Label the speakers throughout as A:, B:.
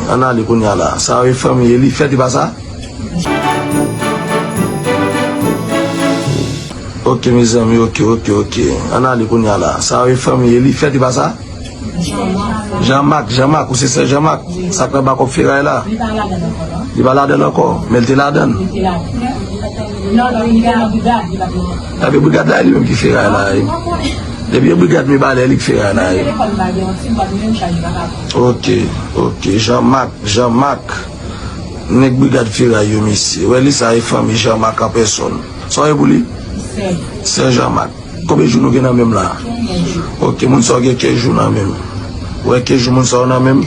A: An ale kounya la. Sa yo e fanmi Elifèt e pa sa? Ok mezanmi ok ok ok. An ale kounya la. Sa yo e fanmi Elifèt e pa sa? Jan Mak Jan Mak ou se sè Jan Mak sak nan bakop feray la? Li pa ladann ankò? Men li te
B: ladann? Epi
A: brigad la e li menm ki feray la e? Depi e brigad Mibalè e li ki feray la e? Ok ok Jean Marc Jean Marc nèg brigad feray yo mesye wè li sa e fanmi Jean Marc an pèsòn sa w ye pou li? Sè Sè Jean Marc Konbyen jou nou gen nan men m la a? Konbyen jou? Ok moun sa w gen ke jou nan men m wè ke jou moun sa w nan men m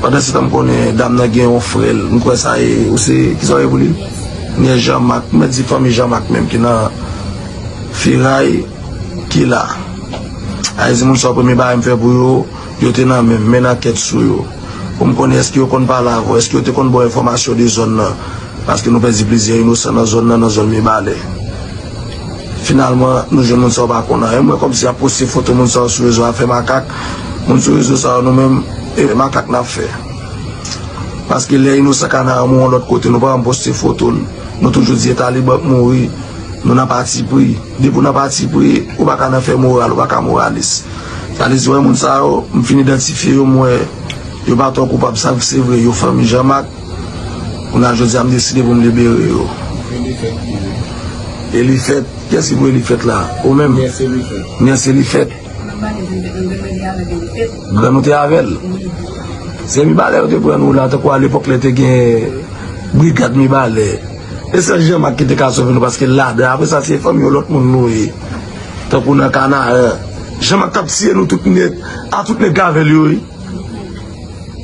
A: pandan se tan m konnen dam nan gen yon frè l m kwè sa e ou se ki sa w ye pou li? Nyès Jean Marc mèt di fanmi Jean Marc menm ki nan feray ki la a e di moun sa w premye bagay m fè pou yo Yo te nan men, men nan tèt sou yo. Pou m konnen èske yo konn pale avè w, èske yo te konn ba w enfòmasyon de zòn nan, paske nou pèdi plizyè inosan nan zòn nan, nan zòn Mibalè. Finalman, nou jwenn moun sa yo pa konn anyen. M wè kòmsi y ap poste foto moun sa yo sou rezo a, fè makak. Moun sou rezo sa yo nou menm, e makak n ap fè? Paske lè inosan Kanaran mouri yon lòt kote, nou pa janm poste foto l. Nou toujou di e Taliban k mouri, nou nan patipri. Depi w nan patipri, ou pa ka nan fè moral, ou pa ka moralis. Sa vle di wè moun sa yo, m fin idantifye yo, m wè yo pa twò koupab sa k se vre, yo fanmi Jan Mak, kounye a jodi a m deside pou m libere yo. Elifèt ki yo? Elifèt? Kiyès ki pou Elifèt la? Ou menm? Niyès Elifèt. Niyès Elifèt? Grann ou te avè l? Wi. Se Mibalè yo te pran nou la tankou alepòk lè te gen brigad Mibalè. E sèl Jan Mak ki te ka sove nou paske l ladan, apre sa se fanmi yo lòt moun nou ye. Tankou nan Kanaan. Jean Marc tap tiye nou tout net a tout neg avel yo wi.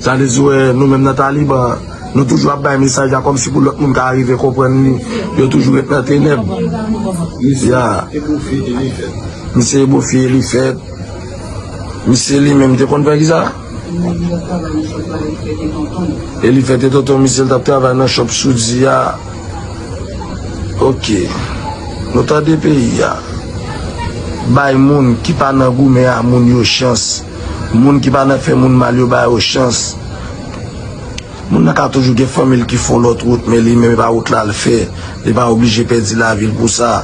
A: Sa vle di wè nou menm nan taliban nou toujou ap bay mesaj la kòmsi pou lòt moun ka arive konprann li yo toujou ret nan tenèb ya misye ebofye elifèt misye li menm te konn fè kisa. E li fete tonton misye l tap travay nan shop soudi a ok nou tande peyi a bay moun ki pa nan goumen a moun yo chans moun ki pa nan fè moun mal yo ba yo chans. Moun nan ka toujou gen fanmi l ki fon lòt wout men li menm e pa wout la l fè, li pa oblije pèdi lavi l pou sa.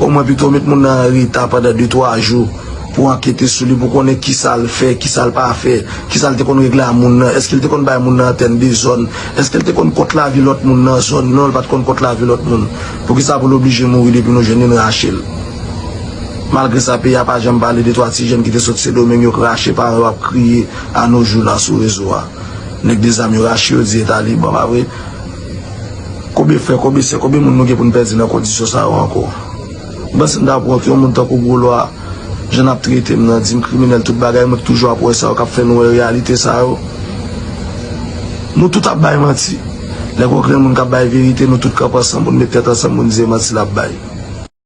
A: Omwen pito met moun nan an reta pandan de twa jou pou ankete sou li pou konnen kisa l fè, kisa l pa fè, kisa l te konn regle a moun nan, èske l te konn bay moun nan antèn de zòn, èske l te konn kont lavi lòt moun nan zòn, non l pa t konn kont lavi lòt moun, poukisa pou l oblije mouri depi nou jwenn li n rache l. Malgre sa peyi a pa janm pale de twa ti jèn ki te sot Sendomeng yo k rache paran yo ap kriye a no jou la sou rezo a. Nèg de zam yo rache yo di e taliban pa vre konbyen frè konbyen sè konbyen moun nou gen pou n pèdi nan kondisyon sa yo ankò m panse m ta pran yon moun tankou gwo lwa jan nap trete m nan di m kriminèl tout bagay mwen ki toujou ap wè sa yo kap fè nou wè reyalite sa yo nou tout ap bay manti lè gon grenn moun kap bay verite nou tout kanpe ansanm pou n met tèt ansanm pou n di e manti lap bay.